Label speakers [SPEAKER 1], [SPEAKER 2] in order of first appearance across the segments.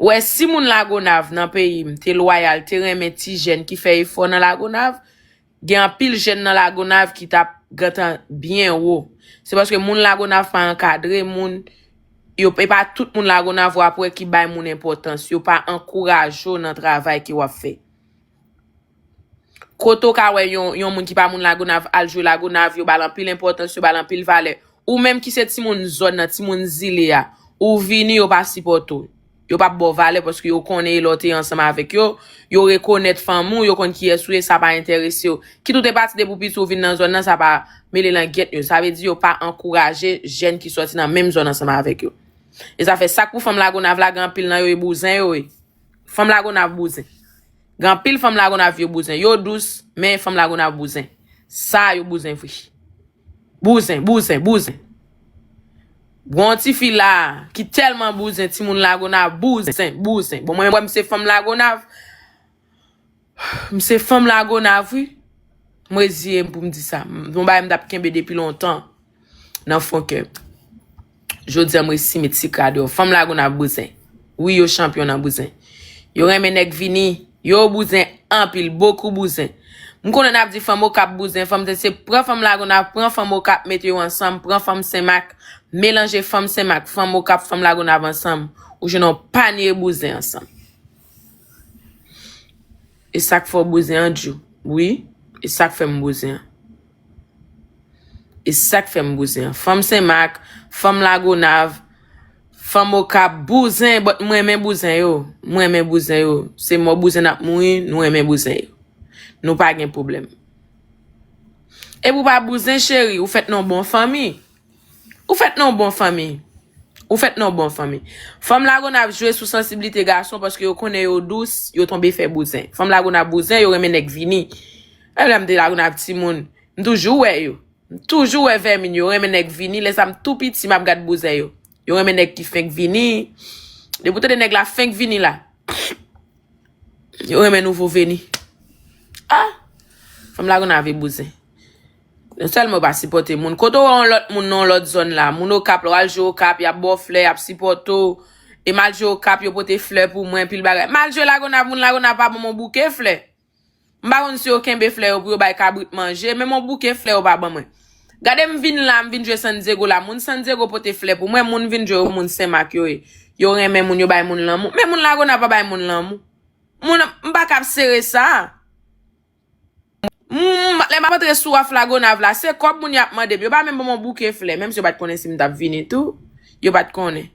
[SPEAKER 1] Ou wè si moun Lagonav nan peyi m te lwayal te renmen ti jèn ki fè efò nan Lagonav gen anpil jèn nan Lagonav ki tap gentan byen wo se paske moun Lagonav pa ankadre moun yo e pa tout moun Lagonav wap wè ki bay moun enpòtans yo pa ankouraje w nan travay ki wap fè. Kote w ka wè yon moun ki pa moun Lagonav al jwe Lagonav, yo ba l anpil enpòtans, yo ba l anpil valè. Ou menm ki se timoun zòn nan, timoun zile a, ou vini yo pa sipòte w. Yo pa ba w valè paske yo konnen e lè w te ansanm avèk yo, yo rekonèt fanmi w, yo konn kiyès ou ye, sa pa enterese yo. Kit ou te pati depi w piti ou vin nan zòn nan sa pa mele langyèt yo. Sa vle di yo pa ankouraje jèn ki sòti nan menm zòn ansanm avèk yo. E zafè sak pou fanm Lagonav la gen anpil nan yo e bouzen yo ye. Fanm lagonav bouzen. Gen anpil fanm lagonav yo bouzen. Yo dous, men fanm lagonav bouzen. Sa yo bouzen vre. Bouzen, bouzen, bouzen. Gon yon ti fi la ki telman bouzen, ti moun lagonav bouzen, bouzen. Bon mwen wèm se fanm lagonav. M se fanm lagonav wi. M reziye m pou m di sa. M son bagay m tap kenbe depi lontan nan fon kè m. Jodi an m resi met sik la deyò. Fanm lagonav bouzen. Wi yo chanpyon nan bouzen. Yo renmen nèg vini. Yo bouzen anpil. Bokou bouzen. M konnen nap di fanm okap bouzen. Fanm se se pran fanm lagonav, pran fanm okap mete yo ansanm, pran fanm senmak, melanje fanm senmak, fanm okap, fanm lagonav ansanm. Ou jwenn yon panye bouzen ansanm. E sak fè w bouzen an Djou? Wi, e sak fè m bouzen an? E sak fè m bouzen an? Fanm Senmak, fanm Lagonav, fanm Okap, bouzen, but m renmen bouzen yo. M renmen bouzen yo. Se mò bouzen n ap mouri, nou renmen bouzen yo. Nou pa gen pwoblèm. E pou w pa bouzen cheri, ou fèt nan w bon fanmi. Ou fèt nan yon bon fanmi. Ou fèt nan yon bon fanmi. Fanm lagonav jwe sou sansibilite gason paske yo konnen yo dous, yo tonbe fè bouzen. Fanm lagonav bouzen, yo renmen nèg vini. Menm lè m te lagonav timoun, m toujou wè yo. M toujou wè vèmin yo, yo renmen nèg vini. Lè sa m tou piti, m ap gad bouzen yo. Yo renmen nèg ki fenk vini. Depi w tande nèg la fenk vini la, yo renmen nouvo veni. A! Fanm lagonav e bouzen. Non sèlman yo pa sipòte moun. Kote w wè yon lòt moun nan yon lòt zòn la, moun Okap la, w al jwe Okap, y ap ba w flè, y ap sipòte w. E m al jwe Okap, yo pote flè pou mwen, anpil bagay. M al jwe Lagonav, moun Lagonav pa ban m yon bouke flè. M pa konn si yo kenbe flè yo pou yo bay kabrit manje, menm yon bouke flè yo pa ban mwen. Gade m vin la, m vin jwe San Dyego la, moun San Dyego pote flè pou mwen, moun m vin jwe yo moun Sen Mak yo ye. Yo renmen moun, yo bay moun lanmou. Men moun Lagonav pa bay moun lanmou. Moun, m pa kab sere sa a. Humm lè map antre sou aflagonav la se kòb moun yo ap mandem yo pa menm banm yon bouke flè menm si yo pat konnen sim tap vini tou yo pat konnen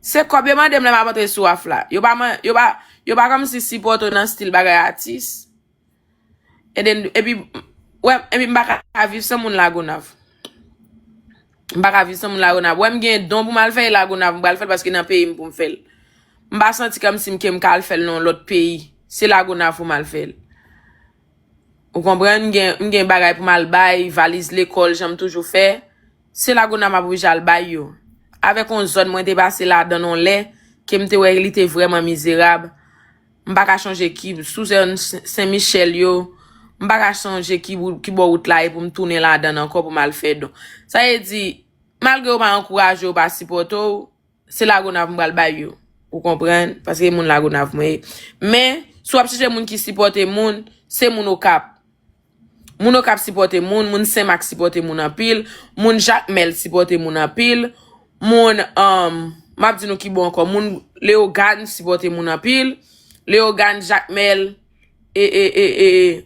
[SPEAKER 1] se kòb yo mandem lè map antre sou af la yo pa man yo pa yo pa kòmsi sipòte w nan stil bagay atis eden epi wè epi m paka viv san moun lagonav. M pa ka viv san moun Lagonav. Wè m gen don pou m al fè e Lagonav m pral fè l paske nan peyi m pou m fè l. M pa santi kòmsi m ke m ka al fè l nan yon lòt peyi. Se Lagonav pou m al fè l. Ou konprann? M gen m gen bagay pou m al bay, valiz lekòl jan m toujou fè. Se Lagonav m ap oblije al bay yo. Avèk yon zòn mwen te pase ladan l yon lè ke m te wè li te vrèman mizerab. M pa ka chonje ki sou zòn Sen Michèl yo, m pa ka chonje ki wout, ki bò wout la ye pou m tounen ladan l ankò pou m al fè don. Sa vle di, malgre yo pa ankouraje, yo pa sipòte w, se Lagonav m pral bay yo. Ou konprann? Paske se moun Lagonav mwen ye. Men, si w ap chèche moun ki sipòte moun, se moun Okap. Moun Okap sipòte moun, moun Senmak sipòte moun anpil, moun Jakmèl sipòte moun anpil, moun, m ap di nou ki bò ankò, moun Leyogàn sipòte moun anpil, Leyogàn, Jakmèl, e, e, e, e.